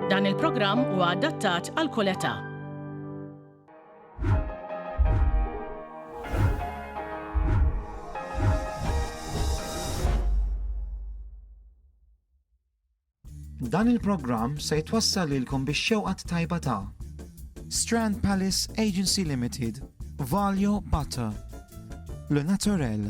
Dan il-programm huwa adattat għal kull età. Dan il-programm se jtwassal lilkom biex xewqat tajba ta' Strand Palace Agency Limited, Valjo Butter, Le Naturel,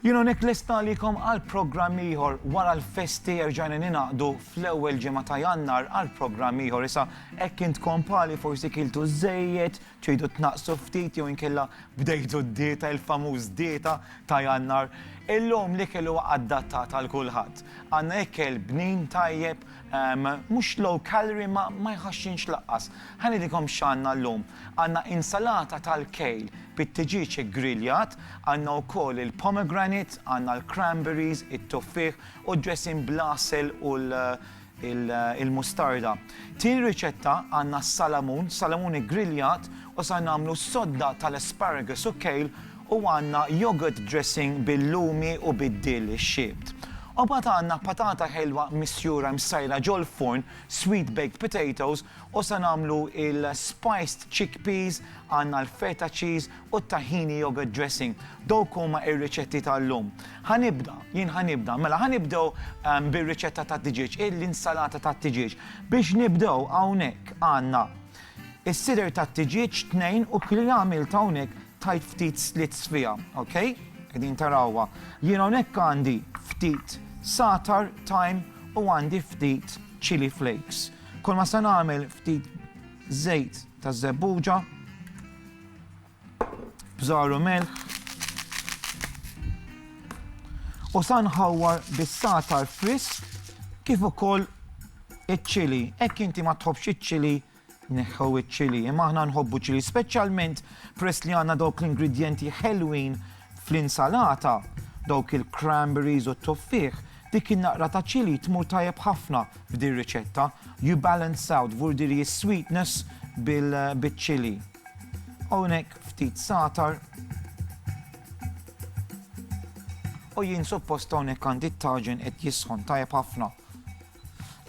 Jien hawnhekk lest nagħlikom għal programm ieħor wara l-festi erġajna ningħaqdu fl-ewwel ġimgħa ta' Jannar għal programm ieħor. Issa hekk intkom pali forsi kiltu żejjed, tridu tnaqqsu ftit jew inkella bdejtu d-dieta il-famuż dieta ta' Jannar. Illum l-ikel huwa adattat għal kulħadd. Għandna ikel bnin tajjeb, ehm, mhux low calorie ma ma jħaxxinx laqqas. Ħa ngħidilkom x'għandna llum. Għandna insalata tal-kejl bit-tiġieġ iggriljat, għandna wkoll il-pomegranate, għandna l-cranberries, it-tuffieħ u d-dressing bl-għasel u l-mustarda. Tieni riċetta għandna s-salamun, salamun iggriljat u sar nagħmlu sodda tal-asparagus u kejl u għandna yogurt dressing bil-lumi u bid-dill ixxiebt. U mbagħad għandna patata ħelwa misjura msajra ġol-furn, sweet baked potatoes U se nagħmlu l-spiced chickpeas, għandna l-feta cheese u t-tahini yogurt dressing. Dawk huma r-riċetti tal-lum. Ħa nibda, jien ħa nibda. Mela ħa nibdew bir-riċetta tat-tiġieġ, l-insalata tat-tiġieġ. Biex nibdew hawnhekk għandna s-sider tat-tiġieġ tnejn u li għamilt hawnhekk tajt ftit slits fiha, ok? Qegħdin tarawha. Jien hawnhekk għandi ftit satar, thyme u għandi ftit chilli flakes. Kolma se nagħmel ftit żejt ta' żebbuġa, bżaru mel. U sa nħawwar bis-satar frisk kif ukoll iċ-ċili. Hekk inti ma tħobbx iċ-ċili neħħu iċ-ċili, imma aħna nħobbu ċili, speċjalment press li għandna dawk l-ingredjenti ħelwin Fl-insalata, dawk il-cranberries u t-tuffieħ, dik in-naqra ta' chilli tmur tajjeb ħafna f'din riċetta, you balance out vurdiri is-sweetness bil-chilli. Hawnhekk ftit zagħtar. U jien suppost hawnhekk għandi t-taġen qed jisħon tajjeb ħafna.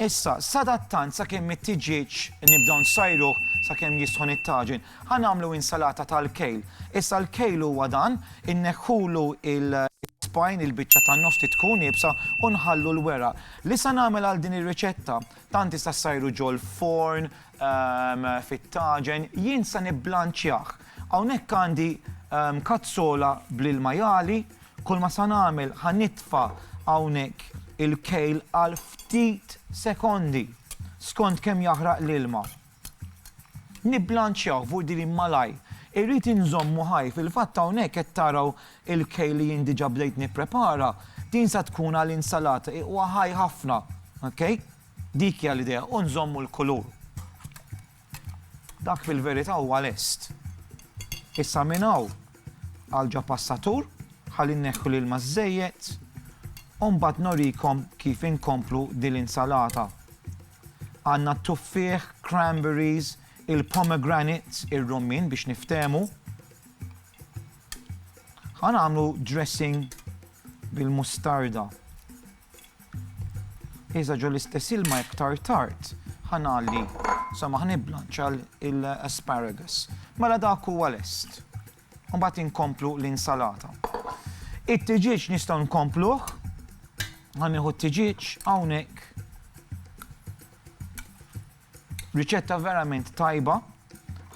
Issa, sadattant sakemm it-tiġieġ nibdew nsajruh sakemm jisħon it-taġin, ħa nagħmlu insalata tal-kejl. Issa l-kejl huwa dan, inneħħulu l-ispine, il-biċċa tan-nofs li tkun iebsa u nħallu l-weraq. Li se nagħmel għal din ir-riċetta, tant tista' ssajru ġol-forn, fit-taġen, jien se nibblanċjah. Hawnhekk għandi kazzola bl-ilma jagħli, Kulma sa nagħmel ħa nitfa' hawnhekk il-kejl għal ftit sekondi skont kemm jaħraq l-ilma. Nibblanċjawh fuq din malajr. Irrid inżommu ħaj, fil-fatt hawnhekk qed taraw il-kejl li jien diġà bdejt nipprepara, din sa tkun għal insalata, huwa ħaj ħafna, ok? Dik hija l-idea, u nżommu l-kulur. Dak fil-verità huwa lest. Issa minn hawn għal ġo passatur ħalli nneħħu l-ilma żżejjed u mbagħad norikom kif inkomplu din l-insalata. Għandna t-tuffieħ, cranberries, il-pomegranate, ir-rummien biex niftehmu. Ħa nagħmlu dressing bil-mustarda. Iżda ġo l-istess ilma iktar tard ħa ngħalli, insomma ħa niblanċa l-asparagus. Mela dak huwa lest. U mbagħad inkomplu l-insalata. It-tiġieġ nistgħu nkompluh, ħa nieħu t-tiġieġ hawnhekk Riċetta verament tajba.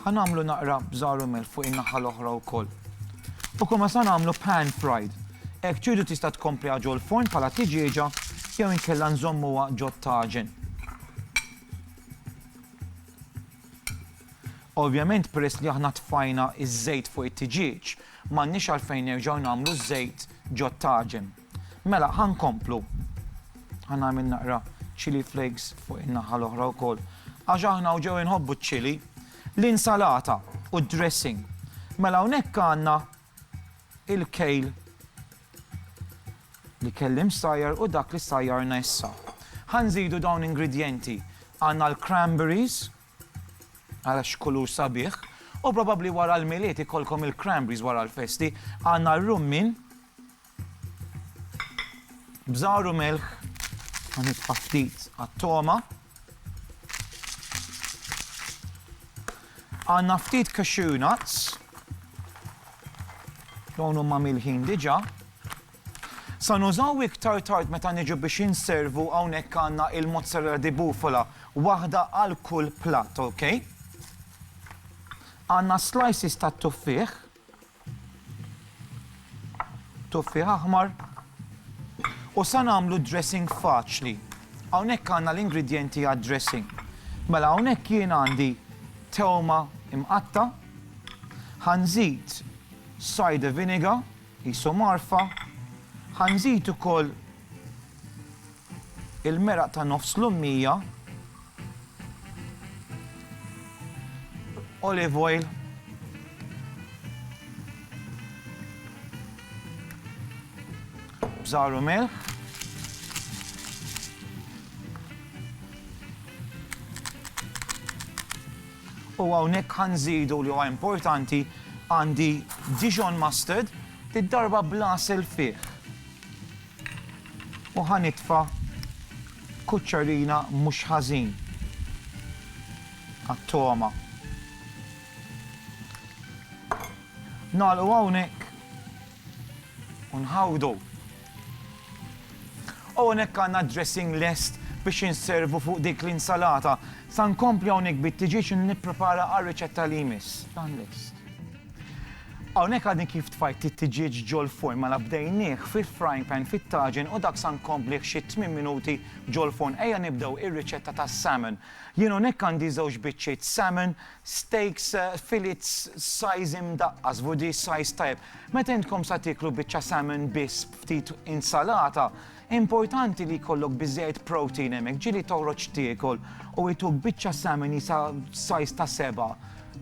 Ħa nagħmlu naqra bżar u melħ fuq in-naħa l-oħra wkoll. U kulma sa nagħmlu pan fried. Hekk tridu tista' tkompliha ġol forn bħala tiġieġa jew inkella nżommuha ġot taġen. Ovvjament peress li aħna tfajna iż-żejt fuq it-tiġieġ, m'għandniex għalfejn nerġgħu nagħmlu ż-żejt ġo taġen. Mela, ħa nkomplu. Ħa nagħmel naqra chili flakes fuq in-naħa l-oħra wkoll. Għax aħna hawn ġew inħobbu ċ-chili, l-insalata u d-dressing. Mela hawnhekk għandna il-kejl li kelli msajjar u dak li sajjarna issa. Ħa nżidu dawn ingredjenti. Għandna l-cranberries, għala x'kulur sabiħ, u probabbli wara l-milied ikollkom il-cranberries wara l-festi, għandna r-rummin, Bżar u milħ ħanitfa' ftit għat-toma. Għandna ftit cashew nuts. Dawn huma milħin diġà. Sa nużaw iktar tard meta niġu biex inservu hawnhekk għandna il-mozzarella di bufala, waħda għal kull platt, ok? Għandna slices ta' tuffieħ, Tuffieħ aħmar. U sa nagħmlu dressing faċli. Hawnhekk għandna l-ingredjenti għad-dressing. Mela hawnhekk jien għandi tewma imqatta, ħanżid cider vinegar, jisu marfa, ħanżid ukoll Il-meraq ta' nofs l-ummija, olive oil, bżar u milħ, u hawnhekk ħanżidu li huwa importanti għandi Dijon mustard, id-darba bla self fih. U ħa nitfa' kuċċarina mhux ħażin għat-togħma. Nagħlqu hawnhekk u nħawdu. U hawnhekk għandna dressing lest biex inservu fuq dik l-insalata. Sa nkompli hawnhekk bit-tiġieġ nipprepara għar-riċetta li jmiss. Dan lest. Hawnhekk għadni kif tfajt it-tiġieġ ġol-furn mela bdejnieh fil-frying pan fit-taġen u dak sa nkomblih xi tmien minuti ġol-furn. Ejja nibdew ir-riċetta tas-salmon. Jien hawnhekk għandi żewġ biċċiet salmon, steaks, filets size imdaqqas, vu di size tajjeb. Meta intkom sa tieklu biċċa salmon biss b'ftit insalata, Importanti li jkollok biżżejjed protein hemmhekk, ġieli toħroġ tiekol u jtuk biċċa samini sa size ta' sebgħa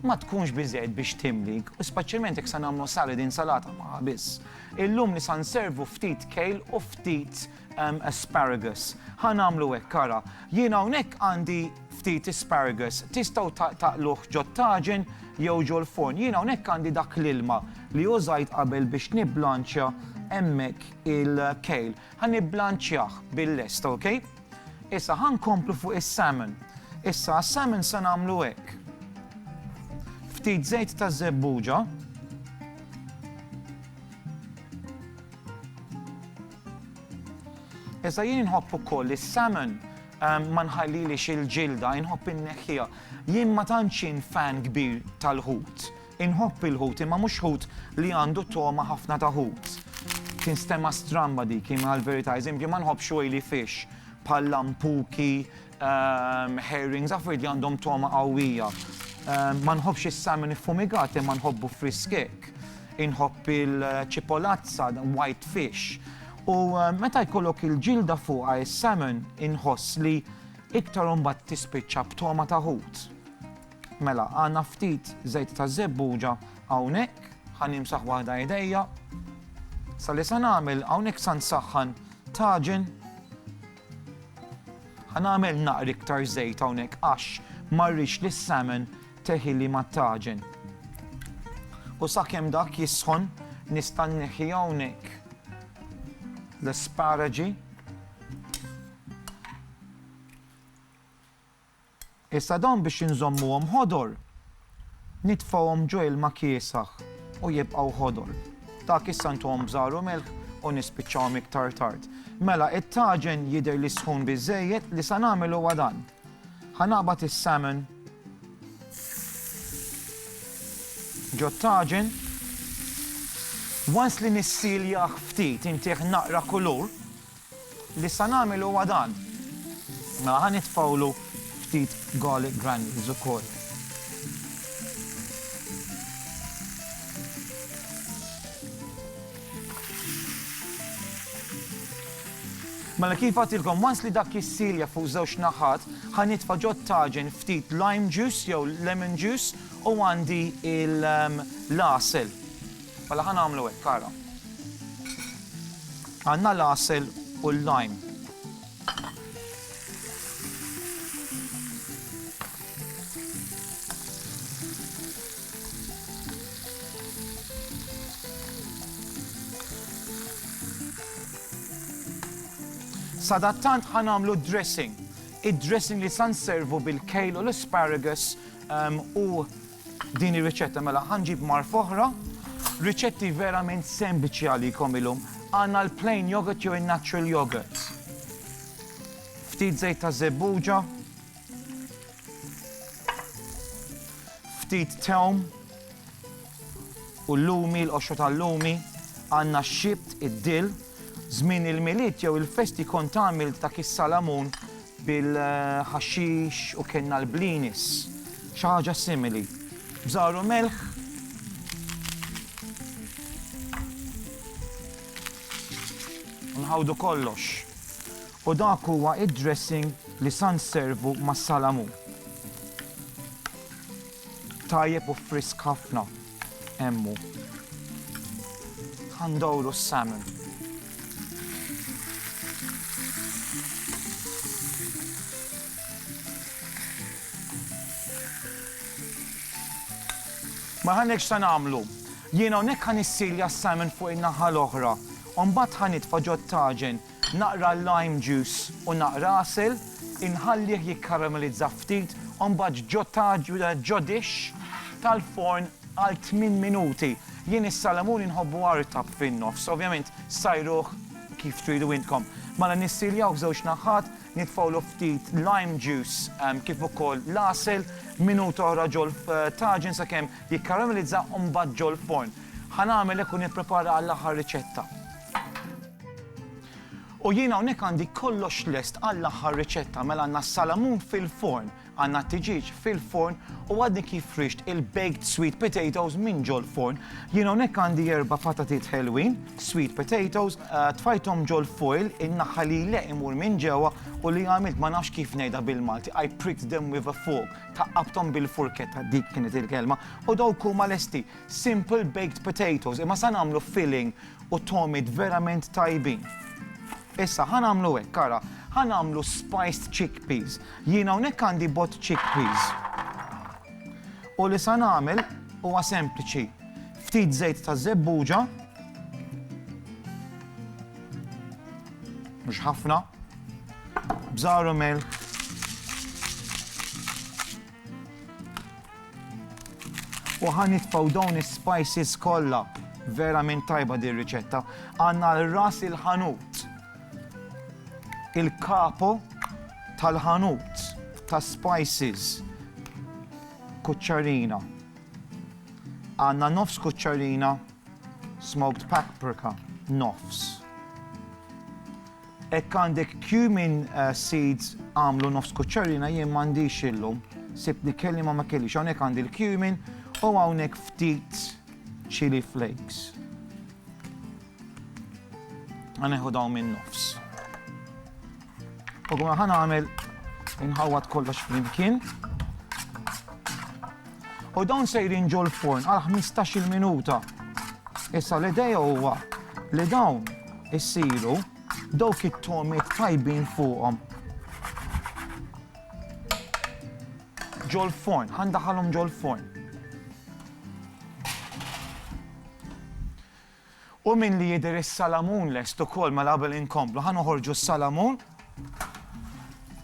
ma tkunx biżżejjed biex timlik, u speċjalment jekk se nagħmlu salad, insalata magħha biss. Illum li sa nservu ftit kale u ftit asparagus. Ħa nagħmlu hekk ara. Jien hawnhekk għandi ftit asparagus, tistgħu taqluh ġot-taġen jew ġol-furn. Jien hawnhekk għandi dak l-ilma li użajt qabel biex nibblanċja hemmhekk il-kejl. Ħa nibblanċjah bil-lest, ok? Issa ħa nkomplu fuq is-salmon. Issa għas-salmon se nagħmlu hekk. Ftit żejt ta' żebbuġa. Issa jien inħobb ukoll is-salmon ehm, ma nħallilix il-ġilda, inħobb inneħħija. Jien ma tantx fan kbir tal-ħut. Inħobb il-ħut imma mhux ħut li għandu togħma ħafna ta' ħut. Tinstema' stramba dik, imma l-verità, eżempju, ma nħobbx oily fish bħal lampuki, herrings, affarijiet li għandhom togħma qawwija. Ma nħobbx is-salmon iffumigat imma nħobbu frisk hekk. Inħobb il-ċipolazza, white fish. U meta jkollok il-ġilda fuqha is-salmon inħoss li iktar imbagħad tispiċċa b'togħma ta' ħut. Mela, għandna ftit żejt taż-żebbuġa hawnhekk, ħa nimsaħ waħda idejja. Sa li sa nagħmel hawnhekk sa nsaħħan taġen. Ħa nagħmel naqri iktar żejt hawnhekk għax ma rridx li s-salmon teħili ma taġen. U sakemm dak jisħon nista' nneħħi hawnhekk l-asparaġi Issa dawn biex inżommuhom ħodor, nitfgħuhom ġo ilma kiesaħ u jibqgħu ħodor. Dak issa ntuhom bżar u milħ u nispiċċawhom iktar tard. Mela it-taġen jidher li sħun biżżejjed li sa nagħmel huwa dan. Ħa naqbad is-salmon ġo t-taġen. Once li nissiljah ftit intih naqra kulur, Li sa nagħmel huwa dan. Mela ħa nitfgħulu ftit garlic granules ukoll. Mela kif għatilkom, once li dak jissilja fuq żewġ naħat, ħa nitfa' ġo taġen ftit lime juice jew lemon juice u għandi l-għasel. Mela ħa nagħmlu hekk, ara. Għandna l-għasel u l-lime. Sadattant ħan għamlu dressing. Id-dressing li san servu bil-kejl u l-asparagus um, u Din hi riċetta mela ħa nġib marfa oħra. Riċetti verament sempliċi għalikom illum. Għandna l-plain yogurt jew in-natural yogurt. Ftit żejt ta' żebbuġa. Ftit tewm. U l-lumi, l-qoxra tal-lumi. Għandna xibt id-dill. Żmien il-milied jew il-festi kont għamilt dak is-salamun bil-ħaxix u kellna l-blinis, xi ħaġa simili. Bżar u melħ. Nħawdu kollox. U dak huwa id-dressing li san servu mas-salamu. Tajjeb u frisk ħafna. Hemm hu. Ħa ndorru s-salmon. Ma ħanekx ta' nagħmlu. Jiena hawnhekk ħa nissilja s-salmon fuq in-naħa l-oħra. U mbagħad ħa nitfa' ġo t-taġen Naqra lime juice u naqra għasel, inħallih jikkaramellizza ftit u mbagħad ġo dixx tal-forn għal tmien minuti. Jien is-salamun inħobbu artab fin-nofs, ovvjament sajruh kif tridu intkom. Mela nissiljawh żewġ naħat, nitfgħulu ftit lime juice kif ukoll l-għasel, minuta oħra ġol-taġin sakemm jikkaramellizza u mbagħad ġol-forn. Ħa nagħmel hekk u nipprepara għall-aħħar riċetta. U jien hawnhekk għandi kollox lest għall-aħħar riċetta mela għandna s-salamun fil-forn, għandna t-tiġieġ fil-forn u għadni kif rixt il-baked sweet potatoes minn ġol-forn. Jien hawnhekk għandi erba' patatiet ħelwin, sweet potatoes, tfajthom ġol-foil, in-naħa li l-għeq imur minn ġewwa u li għamilt ma nafx kif ngħidha bil-Malti, I pricked them with a fork, thaqqabthom bil-furketta, dik kienet il-kelma, u dawk huma lesti. Simple baked potatoes, imma sa nagħmlu filling U togħmiet verament tajbin. Issa ħa nagħmlu hekk, ara, ħa nagħmlu spiced chickpeas. Jien hawnhekk għandi bot chickpeas. U li sa nagħmel huwa sempliċi. Ftit żejt ta' żebbuġa. Mhux ħafna. Bżaru melħ. U ħa nitfgħu dawn is-spices kollha. Verament tajba din riċetta. Għandna għal ras il-ħanut. Il-kapo tal-ħanut ta' spices. Kuċċarina. Għandna nofs kuċċarina smoked paprika. Nofs. Hekk għandek cumin seeds għamlu nofs kuċċarina jien m'għandix illum. Sibtni kelli ma ma kellix. Hawnhekk għandi l-cumin u hawnhekk ftit chili flakes. Għaneħu dawn minn nofs. U għu ħan għamil inħawat kollox flimkien. U dawn sejrin ġol-forn għal ħmistax-il minuta. Issa l-idea huwa li dawn isiru dawk it-togħmiet tajbin fuqhom. Ġol-forn, ħa ndaħħalhom ġol-forn. U min li jidher is-salamun lest ukoll mela qabel inkomplu ħa noħorġu s-salamun.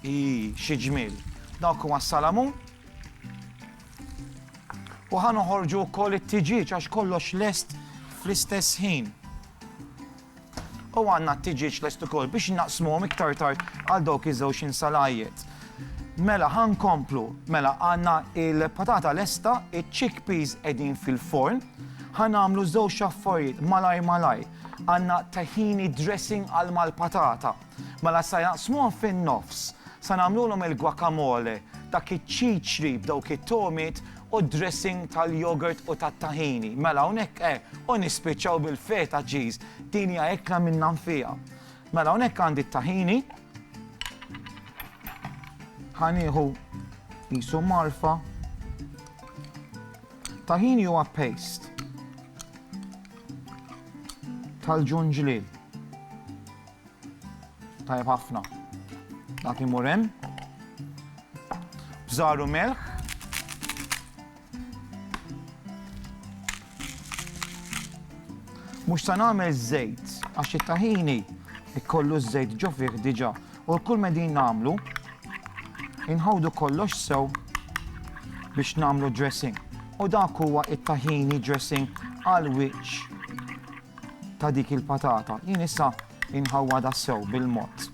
Ii, xi ġmiel. Dawk huma s-salamun. U ħa noħorġu wkoll it-tiġieġ għax kollox lest fl-istess ħin. U għandna t-tiġieġ lest ukoll biex naqsmuhom iktar tard għal dawk iż-żewġ insalajiet. Mela ħa nkomplu, mela għandna il-patata lesta, iċ-chickpeas qegħdin fil-forn, Ħa nagħmlu żewġ affarijiet malajr malajr. Għandna tahini dressing għal mal-patata. Mela sa jaqsmuhom fin-nofs. Sa nagħmlulhom il-guacamole, dak iċ-ċiċri b'dawk it-togħmiet u d-dressing tal-yogurt u tat-tahini. Mela hawnhekk eh, u nispiċċaw bil-feta cheese. Din hija ekla minnha nfiha. Mela hawnhekk għandi t-tahini. Ħa nieħu qisu marfa. Tahini huwa paste tal-ġunġliel. Tajjeb ħafna. Dak imur hemm. Bżaru melħ. Mhux se nagħmel żejt għax it-tahini jkollu ż-żejt ġo fih diġà. U kull ma qegħdin nagħmlu, inħawdu kollox sew biex nagħmlu dressing. U dak huwa it-tahini dressing għal wiċċ ta' dik il-patata. Jien issa inħawwadha sew bil-mod.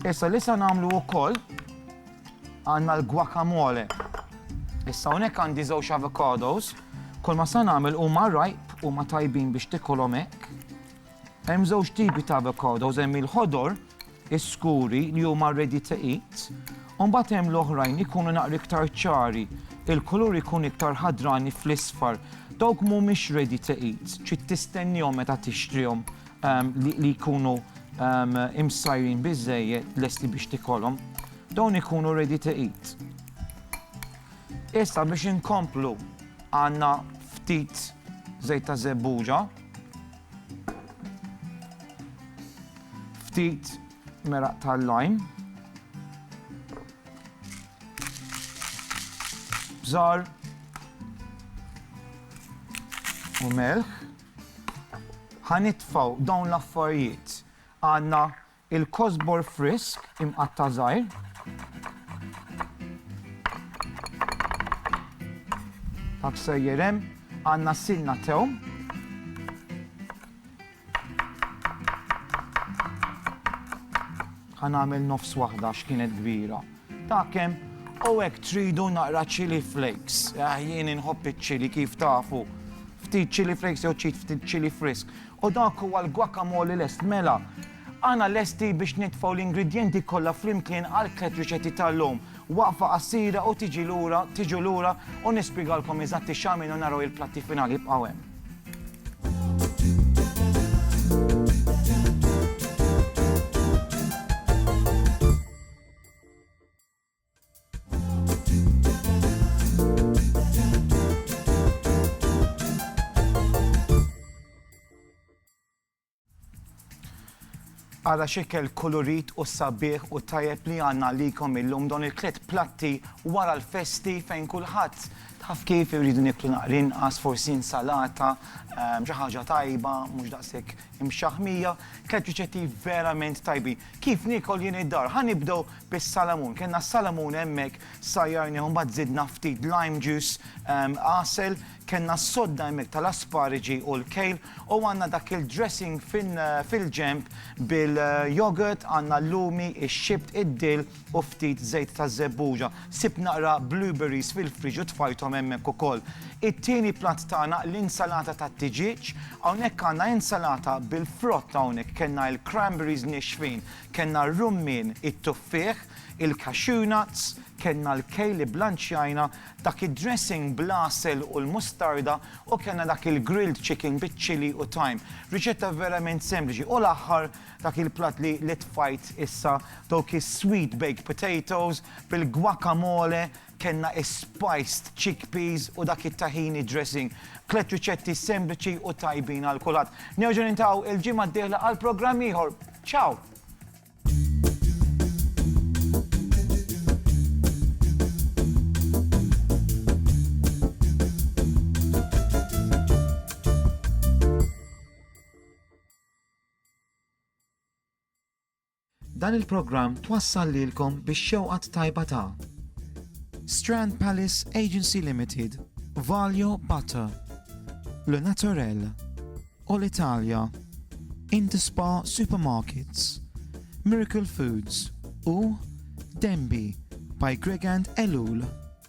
Issa li sa nagħmlu wkoll għandna l-guacamole. Issa hawnhekk għandi żewġ avocados, kull ma sa nagħmel huma rajb huma tajbin biex tikolhom hekk. Hemm żewġ tipi ta' avocados, hemm il-ħodor, is-skuri li huma ready to eat, u mbagħad hemm l-oħrajn li jkunu naqra iktar ċari, il-kulur ikun iktar ħadrani fl-isfar. Dawk mhumiex ready to eat, trid tistennihom meta tixtrihom li jkunu imsajrin biżżejjed lesti biex tikolhom. Dawn ikunu ready to eat. Issa biex inkomplu għandna ftit żejt ta' żebbuġa. Ftit meraq tal-lajm. Bżar. U melħ. Ħanitfaw dawn l-affarijiet. Għanna Il-kosbor frisk imqatta' żgħir. Dak sejjer hemm. Għandna s-sinna tewm. Ħa nagħmel nofs waħda għax kienet kbira. Ta' kemm u hekk tridu naqra chili flakes. Ah, jien inħobb iċ-chili kif tafu. Ftit chili flakes jew ċit ftit chili frisk. U dak huwa l-guacamole lest. Mela, għana lesti biex nitfgħu l-ingredjenti kollha flimkien għall-tliet riċetti tal-lum. Waqfa qasira u tiġi lura, tiġu lura u nispjegalkom eżatt ix-x'għamilt u naraw il-platti finali. Ibqgħu hemm. Ara xikel kulurit u sabiħ u tajjeb li għanna likom illum don il-tlet platti wara l-festi fejn kulħadd taf kif irridu niklu naqri inqas forsi insalata, ehm, xi ħaġa tajba, mhux daqshekk imxaħmija, tlet riċetti verament tajbi. Kif niekol jien id-dar? Ħa nibdew bis-salamun. Kellna s-salamun hemmhekk, sajjarnieh u mbagħad żidna ftit lime juice, għasel, kellna s-sodda hemmhekk tal-aspariġi u l-kale u għandna dak il-dressing fil-ġenb bil-yogurt, għandna l-lumi, ix-xibt, id-dill, u ftit żejt ta' żebbuġa. Sibt naqra blueberries fil-friġu tfajthom hemmhekk ukoll. It-tieni platt tagħna l-insalata tat-tiġieġ. Hawnhekk għandna insalata bil-frott hawnhekk kellna il-cranberries nixfin, kellna r-rummien, it-tuffieħ, il-cashew nuts, kellna l-kejl li blanċjajna, dak id-dressing bl-għasel u l-mustarda u kellna dak il-grilled chicken biċ-chilli u thyme. Riċetta verament sempliċi u l-aħħar Dak il-platt li li tfajt issa, dawk is-sweet baked potatoes bil-guacamole, kellna is-spiced chickpeas u dak it-tahini dressing. Tliet riċetti sempliċi u tajbin għal kulħadd. Nerġgħu niltaqgħu il-ġimgħa d-dieħla għal programm ieħor. Ciao! Dan il-programm twassal lilkom bix-xewqa t-tajba ta'. Strand Palace Agency Limited, Valio Butter, Le Naturel, Olitalia, Interspa Supermarkets, Miracle Foods u Denby by Gregand Ellul.